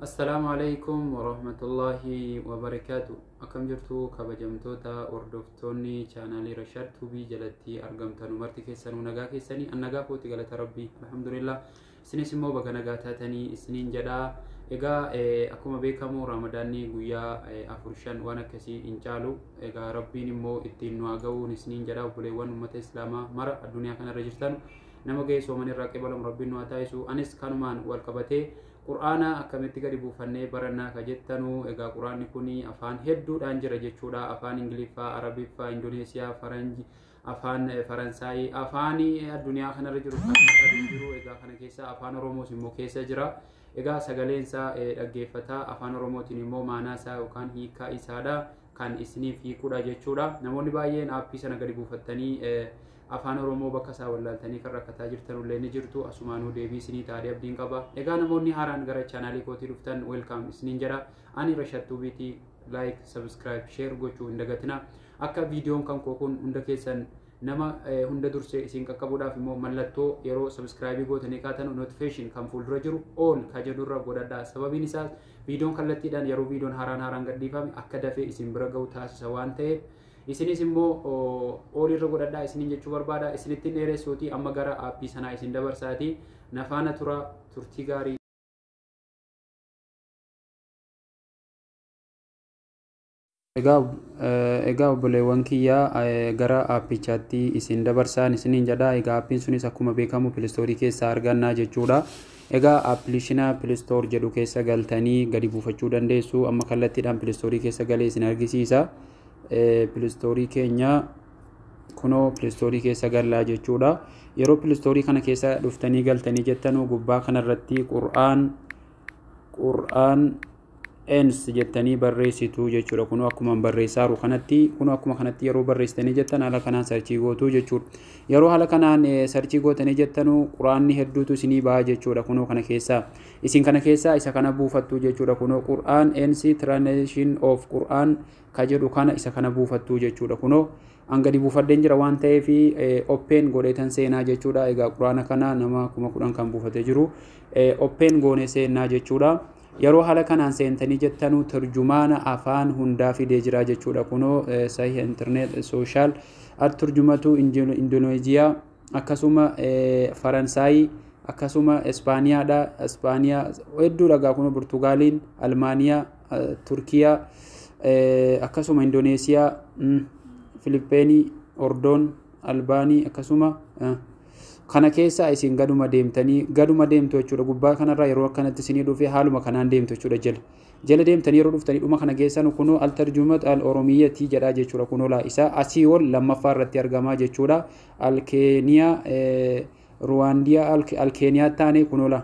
Assalaamu alaikum warahmatullaahi wabarakaatu. Akkam jirtu kabajamtoota hordoftoonni chaanaalii Rashaad Tuubii jalatti argamtan marti keessanuu nagaa keessanii an nagaa kooti galata rabbii alhamdulillah isinis immoo baga nagaa taatanii isiniin jedhaa egaa eh, akkuma beekamu raamadaanni guyyaa eh, afur shan waan akkasii hin caalu egaa rabbiin immoo ittiin nu haa ga'uun isiniin jedhaa obboleewwan uummata islaamaa mara addunyaa kanarra jirtan nama gahee sooman irraa qibalamu rabbiin nu haa taasisu anis kanumaan wal qabatee qur'aana akkamitti gadi buufannee barannaa ka jettanu egaa qur'aanni kun afaan hedduudhaan jira jechuudha afaan ingiliffaa arabiffaa indoneesiyaa faranji afaan faransaayii afaan addunyaa kanarra jiru kan jiru egaa kana keessa afaan oromoos immoo keessa jira egaa sagaleen isaa dhaggeeffataa afaan oromootiin immoo maanaa isaa yookaan hiikaa isaadha kan isiniif hiikuudha jechuudha. Namoonni baay'een aappii sana gadi buufattanii afaan Oromoo bakka isaa wallaaltanii kan rakkataa jirtan illee ni jirtu. Asumaanuu deebii isinii taa'ee abdiin qaba. Egaa namoonni haaraan gara chaanaalii kootii dhuftan weelkaam isiniin jedha. Ani Rashattuu Biitii like, subscribe, share gochuu hin dagatina. Akka viidiyoon kan koo kun hunda keessan nama hunda dursee isin qaqqabuudhaaf immoo mallattoo yeroo subscribe gootanii kaatanu notification kan fuuldura jiru all ka jedhurra godhadha. Sababiin isaas Viidiyoon kallattiidhaan yeroo viidiyoon haaraan haaraan gadhiifame akka dafee isin bira ga'u taasisa waan ta'eef isinis immoo oolii irra godhadhaa isiniin jechuu barbaada isinittiin dheeressuuti amma gara aappii sanaa isin dabarsaati nafaana tura turtii gaarii Egaa obboleewwan kiyya gara aappichaatti isin dabarsaan isiniin jedha. Egaa aappiin sunis akkuma beekamu pilistoorii keessaa argannaa jechuudha. Egaa appilishina pilistoor jedhu keessa galtanii gadi buufachuu dandeessu. Amma kallattiidhaan pilistoorii keessa galee isin argisiisa. Pilistoorii keenya kunoo pilistoorii keessa gallaa jechuudha. Yeroo pilistoorii kana keessa dhuftanii galtanii jettanuu gubbaa kanarratti qur'aan qur'aan ens jettanii barreessitu jechuudha kunoo akkuma barreessaaru kanatti kunoo akkuma kanatti yeroo barreessitanii jettan haala kanaan sarchii gootu jechuudha yeroo haala kanaan sarchii gootanii jettanu quraanni hedduutu isinii ba'a jechuudha kunoo kana keessaa isin kana keessaa isa kana buufattu jechuudha kunoo qur'aan ens translation of qur'aan ka jedhu kana isa kana buufattu jechuudha kunoo an gadi buufadheen jira waan ta'eef oppeen godheetan seenaa jechuudha egaa quraana kana nama kuma kudhan kan buufate jiru oppeen goone seenaa jechuudha yeroo haala kanaan seentanii jettanuu turjumaana afaan hundaa fidee jira jechuudha kunoo sahiha intarneet sooshaal at turjumatu indonooziyaa akkasuma faransaayii akkasuma ispaaniyaadha ispaaniyaa hedduu dhagaa kunoo burtugaaliin almaaniyaa Turkiyaa, akkasuma Indoneesiyaa, Filippeenii, Ordoon, Albaanii akkasuma kana keessaa isin gaduma deemtanii gaduma deemtu jechuudha gubbaa kanarraa yeroo akkanatti isinii dhufee haaluma kanaan deemtu jechuudha jala jala deemtanii yeroo dhuftanii dhuma kana geessan kunoo altarjumat al oromiyyatii jedhaa jechuudha kunoo laa isaa asii ol lammaffaa irratti argamaa jechuudha alkeeniyaa ruwaandiyaa alkeeniyaa taanee kunoo laa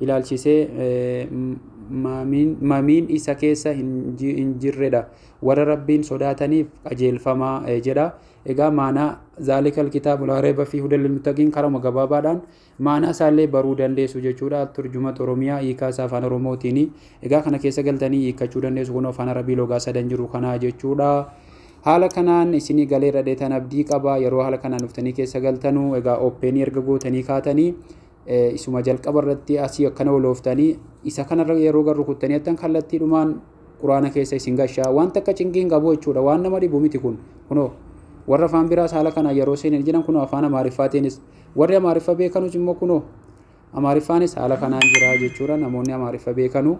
ilaalchisee mamiin isa keessa hin jirredha. Warra Rabbiin sodaataniif qajeelfama jedha. Egaa maanaa zaalikal kitaabu laa reeba fi hudal muttaqiin karama gabaabaadhaan maanaa isaallee baruu dandeessu jechuudha. Turjumat Oromiyaa hiikaa isaa afaan Oromootiin. Egaa kana keessa galtanii hiikkachuu dandeessu kun afaan Arabii logaa sadan jiru kanaa jechuudha. Haala kanaan isinii galee dhadheetan abdii qaba yeroo haala kanaan dhuftanii keessa galtanu egaa ooppeeni erga gootanii kaatanii isuma jalqaba irratti asii akkana olooftanii isa kanarra yeroo gara rukuttanii attan kallattiidhumaan quraana keessa isin gashaa waan takka cinqii hin qabu jechuudha waan nama dhibu miti kun kunoo warra afaan biraas haala kana yeroo seenan jiran kunoo afaan amaariffaatiinis warri amaariffa beekanus immoo kunoo amaariffaanis haala kanaan jira jechuudha namoonni amaariffa beekanu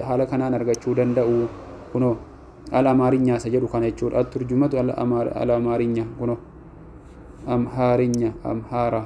haala kanaan argachuu danda'u kunoo al amaarinyaa isa jedhu kana jechuudha turjumatu al amaarinyaa kunoo amhaarinya amhaaraa